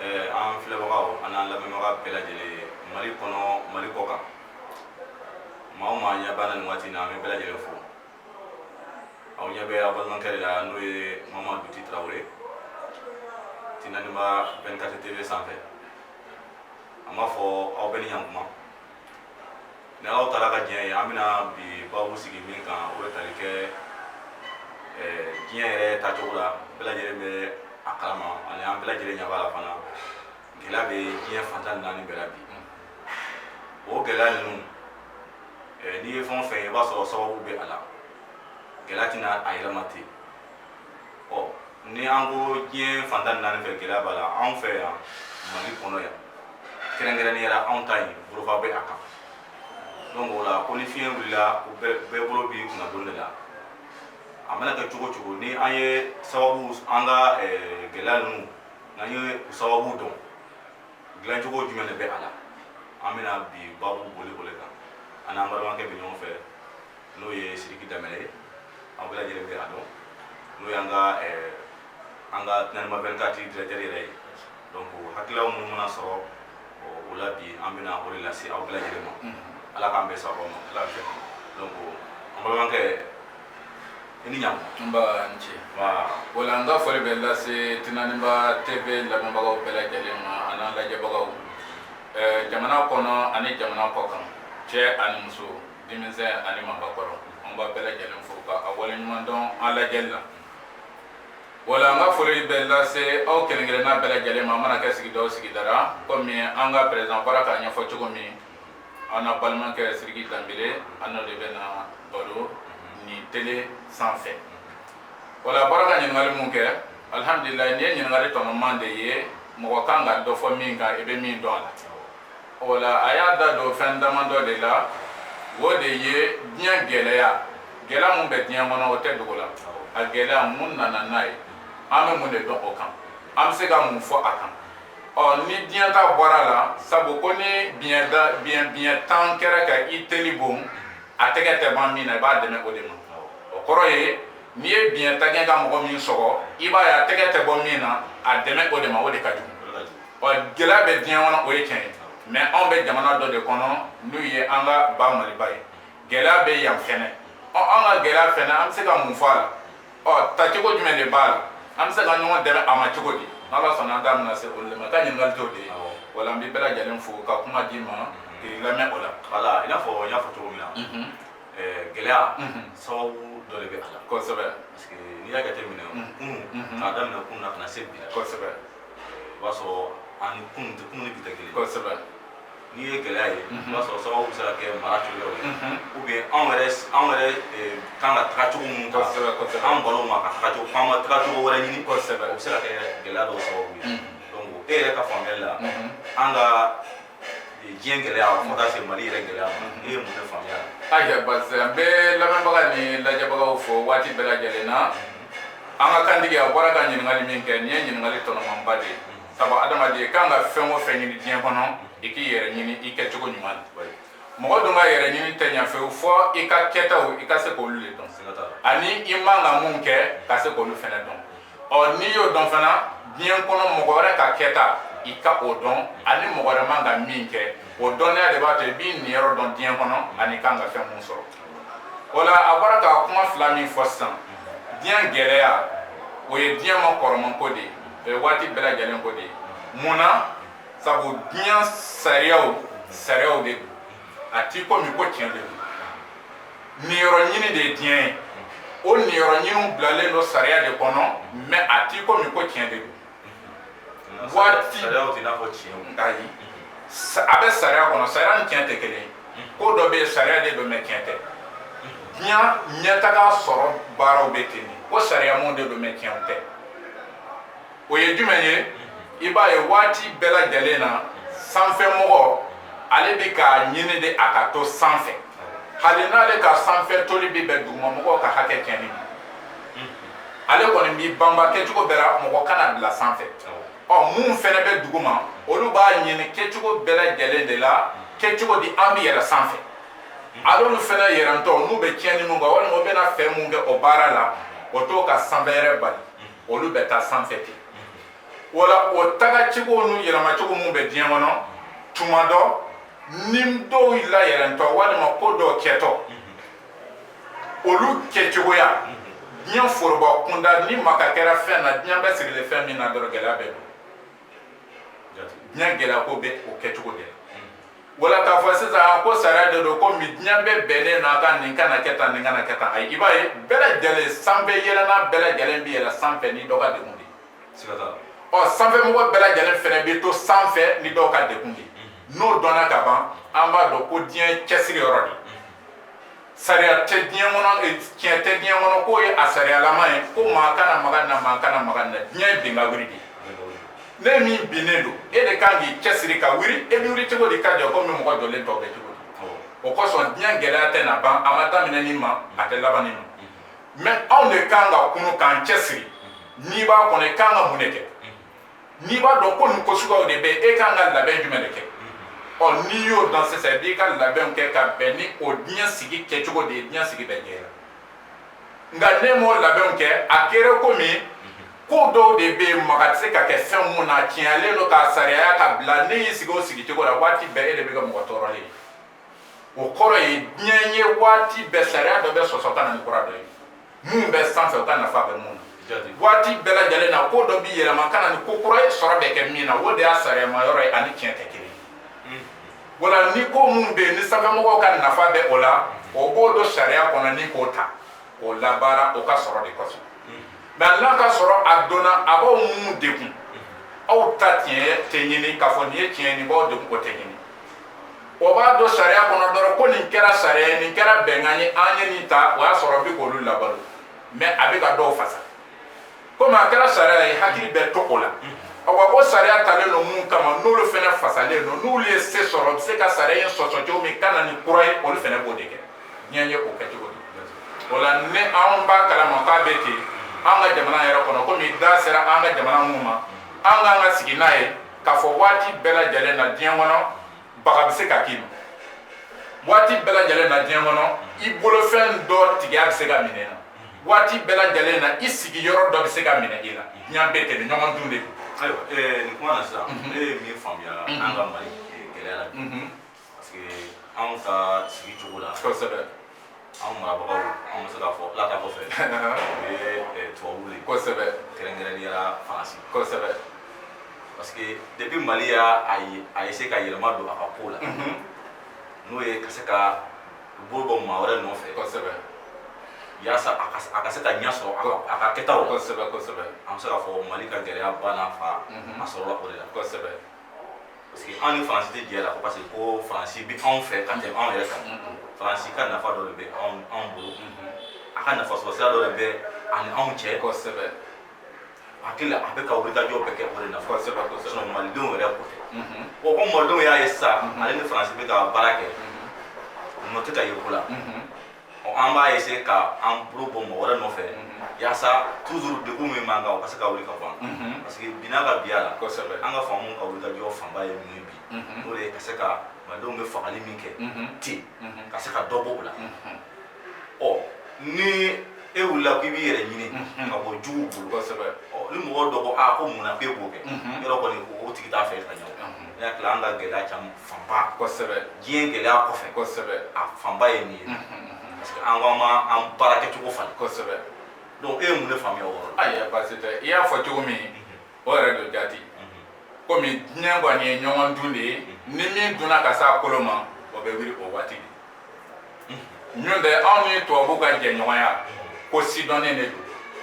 an filɛbagaw an'an lamɛnbaga bɛɛ lajɛlen mali kɔnɔ mali kɔ kan maa o maa ɲɛ b'an na nin waati in na an bɛ bɛɛ lajɛlen fo aw ɲɛ bɛ aw balimakɛ de la n'o ye mama duti tarawele tinaniba 24 tv sanfɛ an b'a fɔ aw bɛɛ ni ɲankuma Ni alahu taala ka diɲɛ ye an bɛna bi babu sigi min kan o bɛ tali kɛ diɲɛ yɛrɛ tacogo la bɛɛ lajɛlen bɛ a kalama ani an bɛɛ lajɛlen ɲɛ b'a la fana gɛlɛya bɛ diɲɛ fan tan ni naani bɛɛ la bi o gɛlɛya ninnu n'i ye fɛn o fɛn ye i b'a sɔrɔ sababu bɛ a la gɛlɛya tɛ na a yɛrɛ ma ten ɔ ni an ko diɲɛ fan tan ni naani fɛ gɛlɛya b'a la anw fɛ yan mali kɔnɔ yan kɛrɛnkɛrɛnnenya la anw ta in bolofa bɛ a kan donc o la ko ni fiɲɛ wulila ko bɛɛ bolo b'i kunna doni de la a mana kɛ cogo o cogo ni an ye sababu an ka eh, gɛlɛya ninnu n'an ye u sababu dɔn dilancogo jumɛn de bɛ a la an bɛna bi babu boli o de kan an n'an balimakɛ bɛ ɲɔgɔn fɛ n'o ye sidiki danbɛlɛ ye aw bɛɛ lajɛlen bɛ a dɔn n'o y'an ka eh, an ka tinaniba 24 directeur yɛrɛ ye donc hakililaw minnu mana sɔrɔ o la bi an bɛna o de lase aw bɛɛ lajɛlen ma ala k'an bɛɛ sababu ma ala fɛ donc an balimakɛ i ni ɲankuma nba n ce wala n ka foli bɛ lase tinaniba tv lamɛnbagaw bɛɛ lajɛlen ma an'an lajɛbagaw Eh, jamana kɔnɔ ani jamana kɔ kan cɛ ani muso denmisɛn ani maakɔrɔ an b'a bɛɛ lajɛlen fo ka a wale ɲuman dɔn an lajɛli la wala an ka foli bɛ lase aw kelen-kelenna bɛɛ lajɛlen ma a mana kɛ sigida o sigida ra komi an ka perezan bɔra k'a ɲɛfɔ cogo min an n'an balimakɛ sidiki danbɛlɛ an n'o de bɛna baro nin tele sanfɛ wala a bɔra ka ɲininkali mun kɛ alihamdulilayi nin ye ɲininkali tɔnɔma de ye mɔgɔ kan ka dɔ fɔ min kan i bɛ min dɔn a la o la a y'a da don fɛn dama dɔ de la o de ye diɲɛ gɛlɛya gɛlɛya min bɛ diɲɛ kɔnɔ o tɛ dogo la a gɛlɛya mun nana n'a ye an bɛ mun de dɔn o kan an bɛ se ka mun fɔ a kan ɔ ni diɲɛ ta bɔra a la sabu ko ni biɲɛ biɲɛ tan kɛra ka i teli bon a tɛgɛ tɛ ban min na i b'a dɛmɛ o de ma o kɔrɔ ye n'i ye biɲɛ tan kɛ ka mɔgɔ min sɔgɔ i b'a ye a tɛgɛ tɛ bɔ min na a dɛmɛ o de ma o de ka jugu ɔ gɛlɛya bɛ diɲɛ kɔnɔ o ye tiɲɛ ye mais anw bɛ jamana dɔ de kɔnɔ n'o ye an ka ba maliba ye gɛlɛya bɛ yan fɛnɛ ɔ an ka gɛlɛya fɛnɛ an bɛ se ka mun fɔ a la ɔ tacogo jumɛn de b'a la an bɛ se ka ɲɔgɔn dɛmɛ a ma cogo di n'ala sɔnna an da bɛna se olu de ma ka ɲininkali t'o de ye wala an bɛ bɛɛ lajɛlen fo ka kuma d'i ma k'i lamɛn o la wala i n'a fɔ n y'a fɔ cogo min na mhm. eh, gɛlɛya mhm. sababu dɔ de bɛ a la kosɛbɛ parce que n'i y'a jateminɛ mhm. kunun k'a daminɛ kunun na ka na se bi la kosɛbɛ o b'a sɔrɔ an ni kunun tɛ kunun ni bi tɛ kelen ye. kosɛbɛ n'i ye gɛlɛya ye i b'a sɔrɔ sababu bɛ se ka kɛ mara cogoyaw ye ou bien anw yɛrɛ anw yɛrɛ eh, kan ka taga cogo minnu ta Kosɛbɛ, kosɛbɛ. anw balo ma ka taga cogo f'an ma taga cogo wɛrɛ ɲini Kosɛbɛ. o bɛ se ka kɛ gɛlɛya dɔw sababu ye donc e yɛrɛ ka faamuyali la an ka diɲɛ gɛlɛya fo ka taa se mali yɛrɛ gɛlɛya ma e ye mun de faamuya ayiwa basi n bɛ lamɛnbaga ni lajɛbagaw fo waati bɛɛ lajɛlen na an ka kantigi a bɔra ka ɲininkali min kɛ nin ye ɲininkali tɔnɔmanba de ye sabu adamaden kan ka fɛn o fɛn ɲini diɲɛ kɔnɔ i k'i yɛrɛ ɲini i kɛcogo ɲuman na mɔgɔ dun ka yɛrɛ ɲini tɛ ɲɛ fewu fɔ i ka kɛtaw i ka se k'olu de dɔn ani i man ka mun kɛ ka se k'olu fɛnɛ dɔn ɔ n'i y'o dɔn fana diɲɛ kɔnɔ mɔgɔ wɛrɛ ka kɛta i ka o dɔn ani mɔgɔ wɛrɛ man ka min kɛ o dɔnniya de b'a to i b'i niyɔrɔ dɔn diɲɛ kɔnɔ ani i kan ka fɛn mun sɔrɔ o la a bɔra ka kuma fila min fɔ sisan diɲɛ gɛlɛya o ye diɲɛ ma kɔrɔman ko de ye o ye waati bɛɛ lajɛlen ko de ye mun na sabu diɲɛ sariyaw sariyaw de don a t'i komi ko tiɲɛ de don niyɔrɔ ɲini de ye diɲɛ ye o niyɔrɔ ɲiniw bilalen don sariya de kɔnɔ mɛ a t'i komi ko tiɲɛ de don waati ayi a bɛ sariya kɔnɔ sariya ni tiɲɛ tɛ kelen ye ko dɔ bɛ yen sariya de don mɛ tiɲɛ tɛ diɲɛ ɲɛtaga sɔrɔ baaraw bɛ ten de ko sariyamaw de don mɛ tiɲɛ tɛ o ye jumɛn ye i b'a ye waati bɛɛ lajɛlen na sanfɛmɔgɔ ale bɛ k'a ɲini de a ka to sanfɛ hali n'ale ka sanfɛ toli bɛ bɛn dugumamɔgɔw ka hakɛ tiɲɛni ma ale kɔni b'i banba kɛcogo bɛɛ la mɔgɔ kana bila sanfɛ ɔ min fɛnɛ bɛ duguma olu b'a ɲini kɛcogo bɛɛ lajɛlen de la kɛcogo di an bɛ yɛlɛ sanfɛ hal'olu fɛnɛ yɛlɛntɔ n'u bɛ tiɲɛni mun kan walima u bɛna fɛn mun kɛ o baara la o t'o ka sanfɛ yɛlɛ bali olu bɛ taa sanfɛ ten wala o taga cogo n'u yɛlɛma cogo minnu bɛ diɲɛ kɔnɔ tuma dɔ ni dɔw la yɛlɛntɔ walima ko dɔw kɛtɔ olu kɛcogoya diɲɛ foroba kunda ni maga kɛra fɛn na diɲɛ bɛ sigilen fɛn min na dɔrɔn gɛlɛya bɛ don diɲɛ gɛlɛya ko bɛ o kɛcogo de la wala k'a fɔ sisan a ko sariya de don komi diɲɛ bɛɛ bɛnnen n'a kan nin kana kɛ tan nin kana kɛ tan ayi i b'a ye bɛɛ lajɛlen sanfɛ yɛlɛnna bɛɛ lajɛlen bɛ yɛlɛ sanfɛ ni dɔ ka degun de ye ɔ sanfɛmɔgɔ bɛɛ lajɛlen fɛnɛ bɛ to sanfɛ ni dɔw ka degun de ye n'o dɔnna ka ban an b'a dɔn ko diɲɛ cɛsiri yɔrɔ de sariya tɛ diɲɛ kɔnɔ eh, tiɲɛ tɛ diɲɛ kɔnɔ k'o ye a sariyalama ye ko maa kana maga n na maa kana maga n na diɲɛ ye bin ka wuli de ne min binnen don e de kan k'i cɛsiri ka wuli e bɛ wuli cogo di ka jɔ komi mɔgɔ jɔlen tɔw bɛ cogo di o kosɔn diɲɛ gɛlɛya tɛ na ban a ma daminɛ nin ma a tɛ laban nin ma mɛ anw de kan ka kunun k'an cɛsiri n'i b'a kɔnɔ i kan ka mun de kɛ n'i b'a dɔn ko nin ko suguyaw de bɛ e ka kan ka labɛn jumɛn de kɛ ɔ n'i y'o dɔn sisan i b'i ka labɛnw kɛ ka bɛn ni o diɲɛ sigi kɛcogo de ye diɲɛ sigi bɛ ɲɛ la nka n'e m'o labɛnw kɛ a kɛra komi ko dɔw de bɛ yen maga tɛ se ka kɛ fɛn mun na tiɲɛlen don k'a sariyaya ka bila n'e y'i sigi o sigicogo la waati bɛɛ e de bɛ kɛ mɔgɔ tɔɔrɔlen ye o kɔrɔ ye diɲɛ ye waati bɛɛ sariya dɔ bɛ sɔsɔ ka na ni kura dɔ ye mun bɛ sanfɛ u ka nafa bɛ mun na waati bɛɛ lajɛlen na ko dɔ bɛ yɛlɛma ka na ni ko kura ye sɔrɔ bɛ kɛ min na o de y'a sariyama yɔrɔ ye a ni tiɲɛ tɛ kelen ye hmm. wala ni ko mun bɛ yen ni sanfɛmɔgɔw ka nafa bɛ o la o b'o don sariya kɔnɔ ni k'o ta k'o labaara o ka sɔrɔ de kosɔn hmm. mɛ n'a ka sɔrɔ a donna a b'aw mun degun hmm. aw ta tiɲɛ tɛ ɲini k'a fɔ nin ye tiɲɛ ye nin b'aw degun o tɛ ɲini o b'a don sariya kɔnɔ dɔrɔn ko nin kɛra sariya ye nin kɛra bɛnkan ye an ye nin ta o y'a sɔrɔ bi k'olu labalo mɛ a bɛ ka dɔw fasa komi a kɛra sariya ye hakili bɛ to o la awa o sariya talen don mun kama n'olu fɛnɛ fasalen don n'olu ye se sɔrɔ u bɛ se ka sariya in sɔsɔ cogo min ka na ni kura ye olu fɛnɛ b'o de kɛ diɲɛ ye o kɛcogo de o la ni anw b'a kalama k'a bɛ ten an ka jamana yɛrɛ kɔnɔ komi da sera an ka jamana mun ma an ka kan ka sigi n'a ye k'a fɔ waati bɛɛ lajɛlen na diɲɛ kɔnɔ baga bɛ se ka k'i ma waati bɛɛ lajɛlen na diɲɛ kɔnɔ i bolofɛn dɔ tigiya bɛ se ka minɛ na waati bɛɛ lajɛlen na i sigiyɔrɔ dɔ bɛ se ka minɛ i la diɲɛ bɛ ten ɲɔgɔn dun de don ayiwa nin kuma na sisan ne ye min faamuya an ka mali gɛlɛya la Parce que anw ka sigi cogo la kosɛbɛ anw marabagaw anw bɛ se k'a fɔ ala ta kɔfɛ o ye tubabuw de ye kosɛbɛ kɛrɛnkɛrɛnnenya faransi kosɛbɛ parce que depuis mali y'a essayer ka yɛlɛma don a ka ko la n'o ye ka se ka bolo bɔ maa wɛrɛ nɔfɛ kosɛbɛ yaasa a ka se ka ɲɛ sɔrɔ a ka kɛtaw la kosɛbɛ kosɛbɛ an bɛ se k'a fɔ mali ka gɛlɛya ba n'a fa a sɔrɔla o de la kosɛbɛ parce que an ni faransi tɛ jɛ la ko parce que ko faransi bɛ anw fɛ ka tɛmɛ anw yɛrɛ kan faransi ka nafa dɔ de bɛ anw bolo a ka nafa sɔrɔ sira dɔ de bɛ a ni anw cɛ kosɛbɛ hakili la a bɛ ka wulikajɔ bɛɛ kɛ o de nafa kosɛbɛ kosɛbɛ sinɔn malidenw yɛrɛ ko tɛ o ko malidenw y'a ye sisan ale ni faransi bɛ ka baara kɛ nɔ tɛ ka ye ko la an b'a essayer ka an bolo bɔ mɔgɔ wɛrɛ nɔfɛ yaasa toujours degun min b'an kan o ka se ka wuli ka bɔ an kan parce que bi n'a ka bi a la kosɛbɛ an ka faamaw ka wulikajɔ fanba ye min ye bi n'o de ye ka se ka malidenw bɛ fagali min kɛ ten ka se ka dɔ bɔ o la ɔ ni e wulila k'i b'i yɛrɛ ɲini ka bɔ juguw bolo kosɛbɛ ni mɔgɔ dɔ ko a ko mun na k'e b'o kɛ yɔrɔ kɔni o tigi t'a fɛ ka ɲɛ o ne hakili la an ka gɛlɛya caman fanba kosɛbɛ diɲɛ gɛlɛya kɔfɛ kosɛbɛ a fanba ye min ye parce que an ko an ma an baara kɛcogo falen kosɛbɛ donc e ye mun de faamuya o yɔrɔ la ayiwa baasi tɛ i y'a fɔ cogo min o yɛrɛ don jati komi diɲɛ kɔni ye ɲɔgɔn dun de ye ni min dunna ka s'a kolo ma o bɛ wuli o waati de n'o tɛ anw ni tubabuw ka jɛɲɔgɔnya ko sidɔnnen de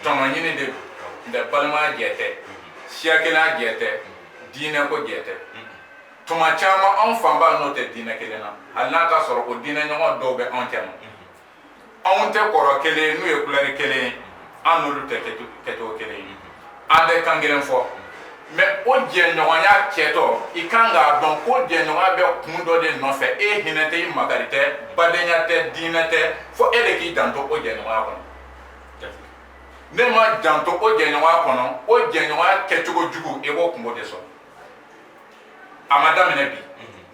don tɔnɔɲini de don n tɛ balimaya jɛ tɛ siya kelen jɛ tɛ diinɛ ko jɛ tɛ tuma caman anw fanba n'o tɛ diinɛ kelen na hali n'a ka sɔrɔ o diinɛ ɲɔgɔn dɔw bɛ anw cɛma anw tɛ kɔrɔ kelen n'o ye kulɛri kelen ye an n'olu tɛ kɛcogo kelen ye an tɛ kan kelen fɔ mɛ o jɛɲɔgɔnya kɛtɔ i kan k'a dɔn ko jɛɲɔgɔnya bɛ kun dɔ de nɔfɛ i hinɛ tɛ i makari tɛ badenya tɛ diinɛ tɛ fo e de k'i janto o jɛɲɔgɔnya kɔnɔ n'e ma janto o jɛɲɔgɔnya kɔnɔ o jɛɲɔgɔnya kɛcogo jugu e b'o kunko de sɔrɔ a ma daminɛ bi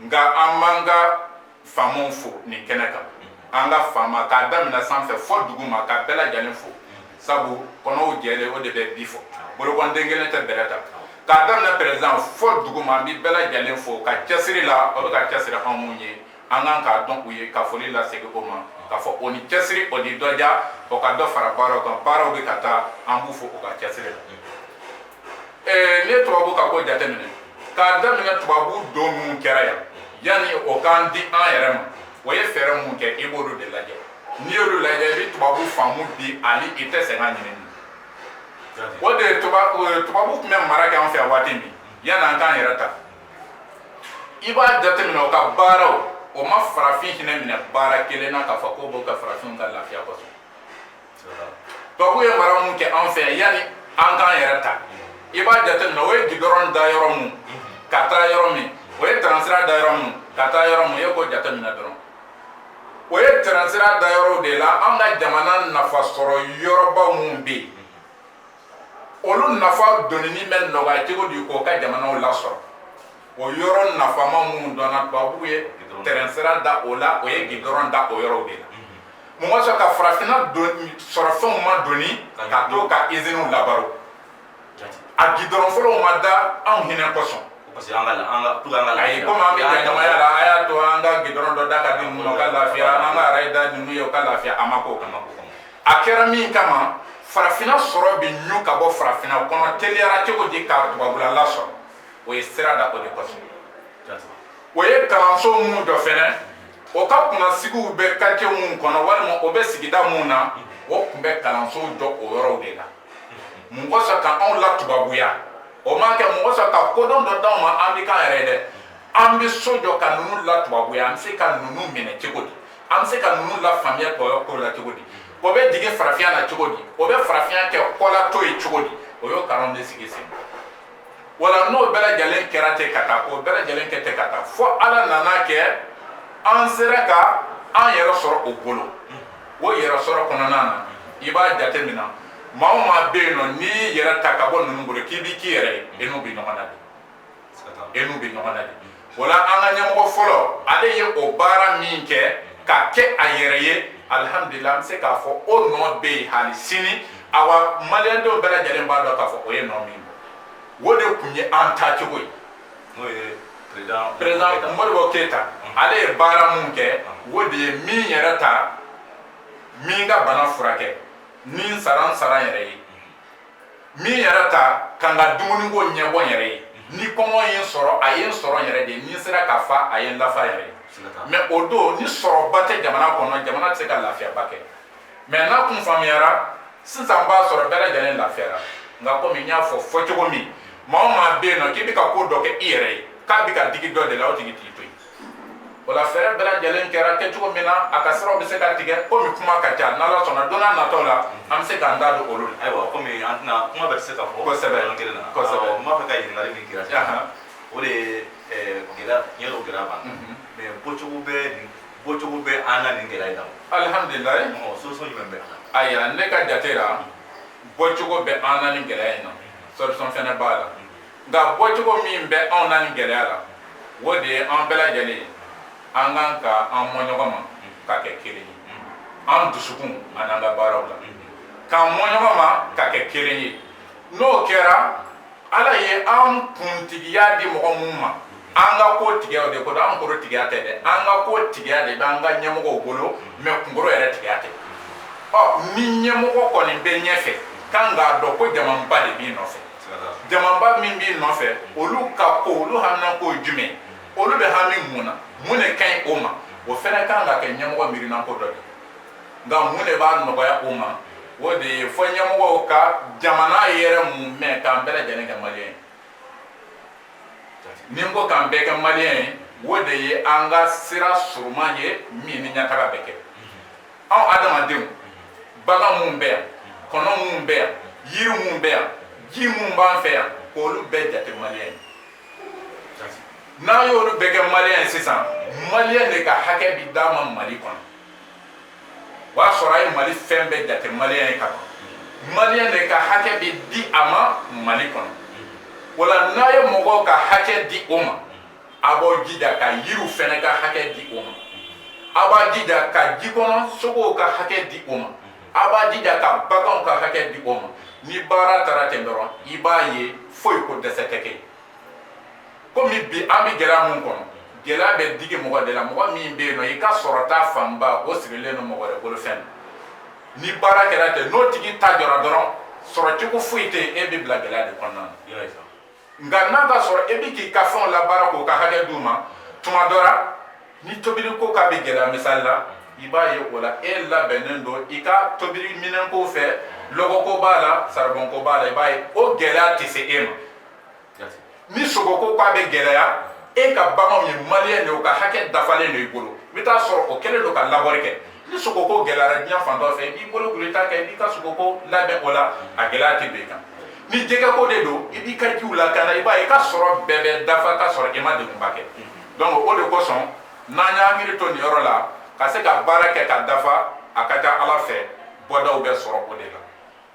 nka an b'an ka faamaw fo nin kɛnɛ kan an ka faama k'a daminɛ sanfɛ fo duguma ka bɛɛ lajɛlen fo sabu kɔnɔw jɛlen o de bɛ bii fɔ bolokɔnden kelen tɛ bɛrɛ ta k'a daminɛ perezidan fo duguma n bɛ bɛɛ lajɛlen fo o ka cɛsiri la o bɛ ka cɛsiri anw mun ye an kan k'a dɔn u ye ka foli lasegin o ma k'a fɔ o ni cɛsiri o ni dɔja o ka dɔ fara baaraw kan baaraw bɛ ka taa an b'u fo u ka cɛsiri la n'i ye tubabu ka ko jateminɛ k'a daminɛ tubabu don min kɛra yan yanni o k'an di an yɛrɛ ma o ye fɛɛrɛ mun kɛ i b'olu de lajɛ n'i y'olu lajɛ i bɛ tubabu faamu bi ani i tɛ sɛgɛn ɲinini o de ye tubabu tun bɛ mara kɛ an fɛ yan waati min yanni an k'an yɛrɛ ta i b'a jateminɛ o ka baaraw o ma farafin hinɛ minɛ baara kelen na k'a fɔ k'o b'o kɛ farafinw ka lafiya kosɔn tubabu ye mara mun kɛ an fɛ yan yanni an k'an yɛrɛ ta i b'a jateminɛ o ye gidɔrɔn da yɔrɔ mun ka taa yɔrɔ min o ye tɛrɛnsira da yɔrɔ mun ka taa yɔrɔ mun e k'o jateminɛ dɔrɔn o ye tɛrɛnsira da yɔrɔw de la an ka jamana nafa sɔrɔ yɔrɔbaw mun bɛ yen olu nafa donni bɛ nɔgɔya cogo di k'o ka jamanaw lasɔrɔ o yɔrɔ nafama minnu dɔnna tubabuw ye tɛrɛnsira da o la o ye gidɔrɔn da o yɔrɔw de la mɔgɔ sɔrɔ ka farafinna sɔrɔfɛnw ma doni ka t'o ka iziniw labalo a gidɔrɔn fɔlɔw ma da anw hinɛ kosɔn parce que an ka an ka tout an ka lafiya komi an bɛ kɛ jamaya la a y'a to an ka gidɔrɔn dɔ da ka di ninnu ma o ka lafiya an ka araye da ninnu ye u ka lafiya a ma ko a ma ko a kɛra min kama farafina sɔrɔ bɛ ɲu ka bɔ farafina kɔnɔ teliya la cogo di ka tubabula lasɔrɔ o ye sira da o de kɔsɔn o ye kalanso minnu jɔ fɛnɛ o ka kunnasigiw bɛ quartier minnu kɔnɔ walima o bɛ sigida minnu na o tun bɛ kalanso jɔ o yɔrɔw de la mun kɔsɔn ka anw latubabuya o ma kɛ mun kɔsɔn ka kodɔn dɔ d'anw ma an bɛ k'an yɛrɛ dɛ an bɛ so jɔ ka ninnu latubabuya an bɛ se ka ninnu minɛ cogo di an bɛ se ka ninnu lafaamuya kɔyɔ ko la cogo di o bɛ dege farafinya la cogo di o bɛ farafinya kɛ kɔlato ye cogo di o y'o kalan de sigi sen wala n'o bɛɛ lajɛlen kɛra ten ka taa k'o bɛɛ lajɛlen kɛ ten ka taa fo ala nan'a kɛ an sera ka an yɛrɛ sɔrɔ o bolo o yɛrɛsɔrɔ kɔnɔna na i b'a jateminɛ maa o maa bɛ yen nɔ n'i y'i yɛrɛ ta ka bɔ ninnu bolo k'i b'i k'i yɛrɛ ye e n'u bɛ ɲɔgɔn na de e n'u bɛ ɲɔgɔn na de o la an ka ɲɛmɔgɔ fɔlɔ ale ye o baara min kɛ ka kɛ a yɛrɛ ye alihamudulila an bɛ se k'a fɔ o nɔ bɛ yen hali sini awa maliyɛndenw bɛɛ lajɛlen b'a dɔn k'a fɔ o ye nɔ min bɔ o de tun ye an taacogo ye n'o ye président modibo keyita ale ye baara min kɛ o de ye n bɛ n yɛrɛ ta n bɛ n ka bana furakɛ ni n sara n sara n yɛrɛ ye n bɛ n yɛrɛ ta ka n ka dumuniko ɲɛbɔ n yɛrɛ ye ni kɔngɔ ye n sɔrɔ a ye n sɔrɔ n yɛrɛ ye ni n sera ka fa a ye n lafa yɛrɛ ye mɛ o don ni sɔrɔba tɛ jamana kɔnɔ jamana tɛ se ka lafiyaba kɛ mɛ n'a kun faamuyara sisan b'a sɔrɔ bɛɛ lajɛlen lafiyara nka komi n y'a fɔ fɔcogo min maa o maa bɛ yen nɔ k'i bɛ ka ko dɔ kɛ i yɛrɛ ye k'a bɛ ka digi dɔ de la o tigi t'i to yen o la fɛɛrɛ bɛɛ lajɛlen kɛra kɛcogo min na a ka siraw bɛ se ka tigɛ komi kuma ka ca n'ala sɔnna don nataw la an bɛ se k'an da don olu la ayiwa komi an tɛna kuma bɛɛ tɛ se ka fɔ kosɛbɛ yɔrɔ kelen na kosɛbɛ n b'a fɛ ka ɲininkali min k'i la o de ye gɛlɛya tiɲɛ don gɛlɛya b'an na mɛ bɔcogo bɛ nin bɔcogo bɛ an na nin gɛlɛya in na alihamdulilayi solution jumɛn bɛ a la ayiwa ne ka jate la bɔcogo bɛ an na nin gɛlɛya in na solution fɛnɛ b'a la nka bɔcogo min bɛ anw na nin gɛlɛya la o de ye an bɛɛ lajɛlen ye an kan ka an mɔ ɲɔgɔn ma ka kɛ kelen ye an dusukun an'an ka baaraw la k'an mɔ ɲɔgɔn ma ka kɛ kelen ye n'o kɛra ala ye an kuntigiya di mɔgɔ minnu ma an ka kotigiya de b'o bolo an kunkolo tigiya tɛ dɛ an ka kotigiya de bɛ an ka ɲɛmɔgɔw bolo mɛ kunkolo yɛrɛ tigiya tɛ ɔ ni ɲɛmɔgɔ kɔni bɛ ɲɛfɛ kan k'a dɔn ko jamaba de b'i nɔfɛ jamaba min b'i nɔfɛ olu ka ko olu haminanko jumɛn olu bɛ hami mun na mun de ka ɲi o ma o fɛnɛ kan ka kɛ ɲɛmɔgɔ miirinanko dɔ de nka mun de b'a nɔgɔya o ma o de ye fo ɲɛmɔgɔw ka jamana yɛrɛ mumɛ k'an bɛɛ lajɛlen kɛ maliyɛn ye ni n ko k'an bɛɛ kɛ maliyɛn ye o de ye an ka sira surunman ye min ni ɲɛtaga bɛ kɛ anw adamadenw bagan minnu bɛ yan kɔnɔ minnu bɛ yan yiri minnu bɛ yan ji minnu b'an fɛ yan k'olu bɛɛ jate maliyɛn ye n'an y'olu bɛɛ kɛ maliyɛn ye sisan maliyɛn de ka hakɛ bi d'a ma mali kɔnɔ o y'a sɔrɔ a ye mali fɛn bɛɛ jate maliyɛn ye ka ban maliyɛn de ka hakɛ bi di a ma mali kɔnɔ o la n'a ye mɔgɔw ka hakɛ di o ma a b'a jija ka yiriw fɛnɛ ka hakɛ di o ma a b'a jija ka jikɔnɔ sogow ka hakɛ di o ma a b'a jija ka baganw ka hakɛ di o ma ni baara taara ten dɔrɔn i b'a ye foyi ko dɛsɛ tɛ kɛ komi bi an bɛ gɛlɛya min kɔnɔ gɛlɛya bɛ digi mɔgɔ de la mɔgɔ min bɛ yen nɔ i ka sɔrɔta fanba o sigilen don mɔgɔ wɛrɛ bolo fɛn ni baara kɛra ten n'o tigi ta jɔra dɔrɔn sɔrɔ cogo foyi tɛ yen e bɛ bila gɛlɛya de kɔnɔna na nka n'a b'a sɔrɔ e bɛ k'i ka fɛnw labaara k'o ka hakɛ d'u ma tuma dɔ la ni tobiliko k'a bɛ gɛlɛya misali la i b'a ye o la e labɛnnen don i ka tobili minɛnko fɛ lɔgɔko b'a la saribɔnko b'a la i b'a ye o gɛlɛya tɛ se e ma ni sogoko k'a bɛ gɛlɛya e ka baganw ye maliyɛn de o ka hakɛ dafalen don i bolo i bɛ taa sɔrɔ o kɛlen don ka labɔri kɛ ni sogoko gɛlɛyara diɲɛ fan dɔ fɛ i b'i bolo kuru i t'a kɛ i b'i ka sogoko labɛn o la a gɛlɛya tɛ don i kan ni jɛgɛko de don i b'i ka jiw lakana i b'a ye i ka sɔrɔ bɛɛ bɛ dafa ka sɔrɔ i ma degunba kɛ donc o de kosɔn n'an y'an miiri to nin yɔrɔ la ka se ka baara kɛ ka dafa a ka ca ala fɛ bɔdaw bɛ sɔrɔ o de la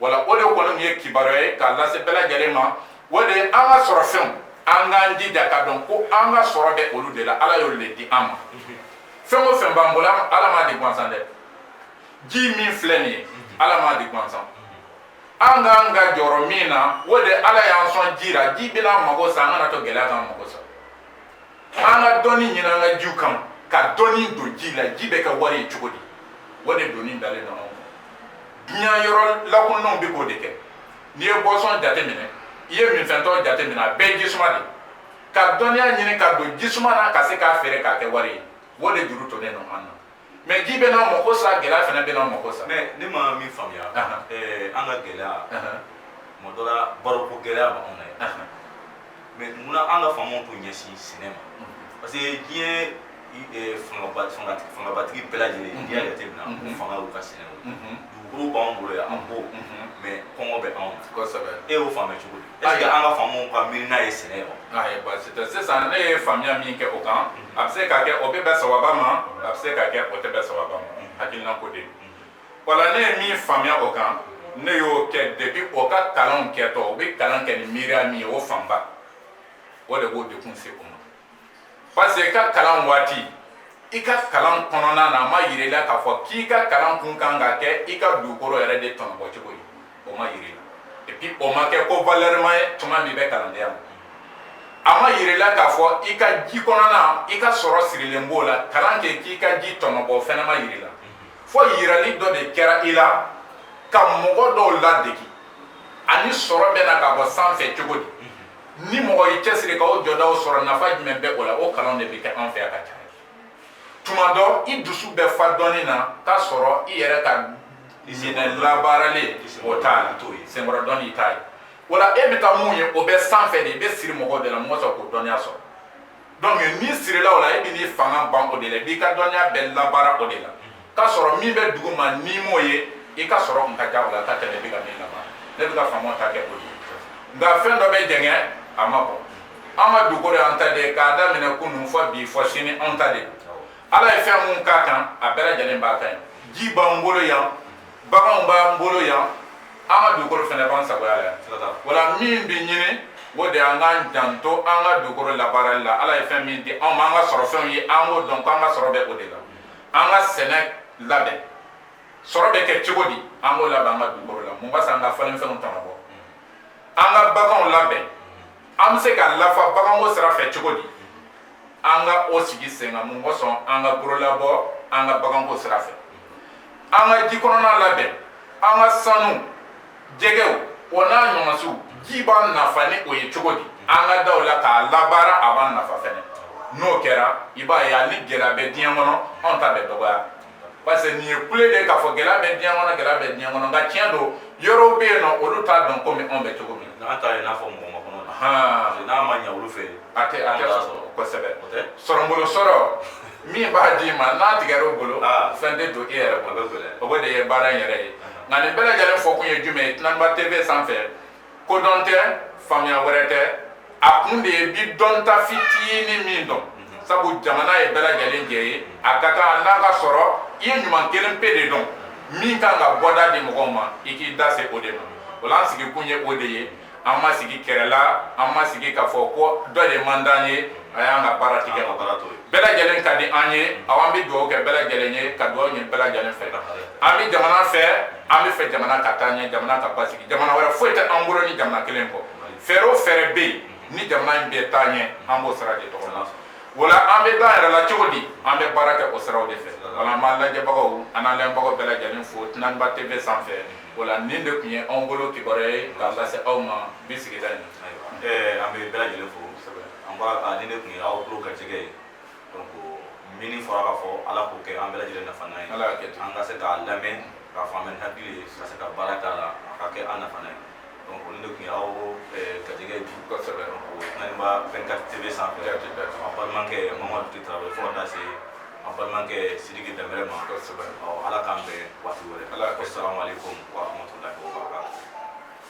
wala o de kɔni min ye kibaruya ye k'a lase bɛɛ lajɛlen ma o de ye an ka sɔrɔ fɛnw an k'an jija ka dɔn ko an ka sɔrɔ bɛ olu de la ala y'olu de di an ma fɛn o fɛn b'an bolo ala m'a di gansan dɛ ji min filɛ nin ye ala m'a di gansan an kan ka jɔrɔ min na o de ala y'an sɔn ji la ji bɛn'an mago sa an kana to gɛlɛya k'an mago sa an ka dɔnni ɲini an ka jiw kan ka dɔnni don ji la ji bɛ kɛ wari ye cogo di o de donni dalen don anw kun diɲɛ yɔrɔ lakunnaw bɛ k'o de kɛ n'i ye bɔsɔn jateminɛ i ye minfɛn tɔ jateminɛ a bɛɛ ye jisuma de ka dɔnniya ɲini ka don jisuma na ka se k'a feere k'a kɛ wari ye o de juru tonnen don an na mɛ ji bɛn'an mago sa gɛlɛya fana bɛn'an mago sa mɛ ne ma min faamuya eh, an ka gɛlɛya tuma dɔ la baloko gɛlɛya b'anw na yen mɛ munna an ka faamaw t'u ɲɛsin sɛnɛ ma mm. parce que diɲɛ eh, fangabatigi bɛɛ lajɛlen n'i y'a jateminɛ u fanga y'u ka sɛnɛ dugukolo b'anw bolo yan an b'o mɛ kɔngɔ bɛ anw na e y'o faamuya cogo di Est-ce que an ka faamaw ka miirina ye sɛnɛ ye wa? Ayi baasi tɛ sisan ne ye faamuya min kɛ o kan a bɛ se ka kɛ o bɛ bɛn sawaba ma a bɛ se ka kɛ o tɛ bɛn sawaba ma hakilina ko de o la ne ye min faamuya o kan ne y'o kɛ depuis o ka kalanw kɛtɔ u bɛ kalan kɛ ni miiriya min ye o fanba o de b'o dekun se u ma. parce que i ka kalan waati i ka kalan kɔnɔna na a ma yira i la k'a fɔ k'i ka kalan kun kan ka kɛ i ka dugukolo yɛrɛ de tɔnɔbɔ cogo di o ma yira i la et puis o ma kɛ ko valeur ma ye tuma min bɛ kalandenya ma a ma yira i la k'a fɔ i ka ji kɔnɔna i ka sɔrɔ sirilen b'o la kalan kɛ k'i ka ji tɔnɔbɔ o fɛnɛ ma yira i la fo yirali dɔ de kɛra i la ka mɔgɔ dɔw ladegi ani sɔrɔ bɛna ka bɔ sanfɛ cogo di ni mɔgɔ y'i cɛsiri ka o jɔdaw sɔrɔ nafa jumɛn bɛ o la o kalan de bɛ kɛ an fɛ a ka ca tuma dɔ i dusu bɛ fa dɔnni na k'a sɔrɔ i yɛrɛ ka sɛnɛ labaaralen o t'a la t'o ye senkɔrɔ dɔnni t'a ye wala e bɛ ka mun ye o bɛ sanfɛ de i bɛ siri mɔgɔw de la mɔgɔ sɔrɔ k'o dɔnniya sɔrɔ donc n'i sirila o la e bɛn'i fanga ban o de la i b'i ka dɔnniya bɛɛ labaara o de la k'a sɔrɔ min bɛ dugu ma n'i m'o ye i ka sɔrɔ kun ka ca o la ka tɛmɛ i bɛ ka min labaara ne bɛ ka faamaw ta kɛ o ye nka fɛn dɔ bɛ jɛngɛ a ma bɔ an ka dugukolo y'an ta de ye k'a daminɛ kunun fɔ bi fɔ sini anw ta de ye ala ye fɛn mun k'a kan a bɛɛ lajɛlen b'a kan yan ji b'an bolo yan baganw b'an bolo yan an ka dugukolo fɛnɛ b'an sagoya la yan wala min bɛ ɲini o de an k'an janto an ka dugukolo labaarali la ala ye fɛn min di anw ma an ka sɔrɔ fɛnw ye an k'o dɔn ko an ka sɔrɔ bɛ o de la an ka sɛnɛ labɛn sɔrɔ bɛ kɛ cogo di an k'o labɛn an ka dugukolo la mun b'a san an ka falenfɛnw tɔnɔbɔ an ka baganw labɛn an bɛ se ka lafa baganko sira fɛ cogo di an ka o sigi sen kan mun kosɔn an ka bololabɔ an ka baganko sira fɛ an ka ji kɔnɔna labɛn an ka sanu jɛgɛw o n'a ɲɔgɔnsiw ji b'an nafa ni o ye cogo di an ka daw la k'a labaara a b'an nafa fɛnɛ n'o kɛra i b'a ye hali gɛlɛya bɛ diɲɛ kɔnɔ anw ta bɛ dɔgɔya parce que nin ye kule de k'a fɔ gɛlɛya bɛ diɲɛ kɔnɔ gɛlɛya bɛ diɲɛ kɔnɔ nka tiɲɛ don yɔrɔw bɛ yen nɔ olu t'a dɔn komi anw bɛ cogo min n'an ta ye n'a fɔ mɔgɔ ma kɔnɔ na n'a ma ɲɛ olu fɛ a tɛ a tɛ sɔrɔ kosɛbɛ sɔrɔbolo sɔrɔ min b'a d'i ma n'a tigɛra o bolo fɛn tɛ don e yɛrɛ bolo o de ye baara in yɛrɛ ye nka nin bɛɛ lajɛlen fɔ kun ye jumɛn ye Tunanba TV sanfɛ kodɔn tɛ faamuya wɛrɛ tɛ a kun de ye bi dɔnta fitinin min dɔn sabu jamana ye bɛɛ lajɛlen jɛ ye a ka kan n'a ka sɔrɔ i ye ɲuman kelen pe de dɔn min kan ka bɔda di mɔgɔw ma i k'i da se o de ma o la an sigi kun ye o de ye an ma sigi kɛlɛ la an ma sigi k'a fɔ ko dɔ de man d'an ye a y'an ka baara tigɛ ka baara to ye bɛɛ lajɛlen ka di an ye aw an bɛ dugawu kɛ bɛɛ lajɛlen ye ka dugawu ɲini bɛɛ lajɛlen fɛ an bɛ jamana fɛ an b'a fɛ jamana ka taa ɲɛ jamana ka basigi jamana wɛrɛ foyi tɛ an bolo ni jamana kelen kɔ fɛɛrɛ o fɛɛrɛ bɛ yen ni jamana in bɛ taa ɲɛ an b'o sira de tɔgɔ la wala an bɛ taa yɛrɛ la cogo di an bɛ baara kɛ o siraw de fɛ wala an b'an lajɛbagaw an n'an lamɛnbagaw bɛɛ lajɛlen fo Tunaniba TV sanfɛ wala nin de tun ye anw bolo kibaruya ye k'a lase aw ma bi sigida in na ɛɛ an bɛ bɛɛ lajɛlen fo an b'a nin de tun ye aw tulo garijɛgɛ ye donc min fɔra k'a fɔ ala k'o kɛ an bɛɛ lajɛlen nafana ye an ka se k'a lamɛn k'a faamu ni hakili ye ka se ka baara k'a la a ka kɛ an nafana ye donc nin de tun ye aw garijɛgɛ bi kosɛbɛ o fɛnɛ b'a 24 tv sanfɛ an balimakɛ mamadu ti tarawele fo ka taa se an balimakɛ sidiki dɛnbɛlɛ ma kosɛbɛ ala k'an bɛn waati wɛrɛ asalamu aleykum wa rahmatulahi wa barakatuh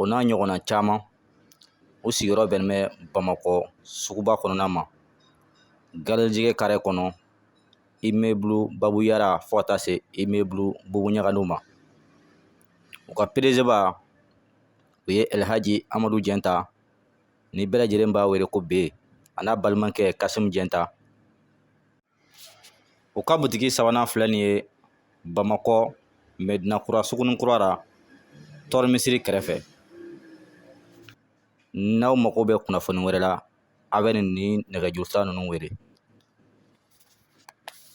o n'a ɲɔgɔnna caman u sigiyɔrɔ bɛnnen bɛ bamakɔ suguba kɔnɔna ma garijɛgɛ kare kɔnɔ immeuble babu yara fo ka taa se immeuble bubu ɲagadu ma u ka pdg ba o ye elhaji amadu jɛnta ni bɛɛ lajɛlen b'a wele ko be a n'a balimakɛ kasimu jɛnta u ka butigi sabanan filɛ nin ye bamakɔ mɛdinakura sugunin kura la tɔɔrɔ misiri kɛrɛfɛ n'aw mago bɛ kunnafoni wɛrɛ la a bɛ nin nɛgɛjuru sira ninnu wele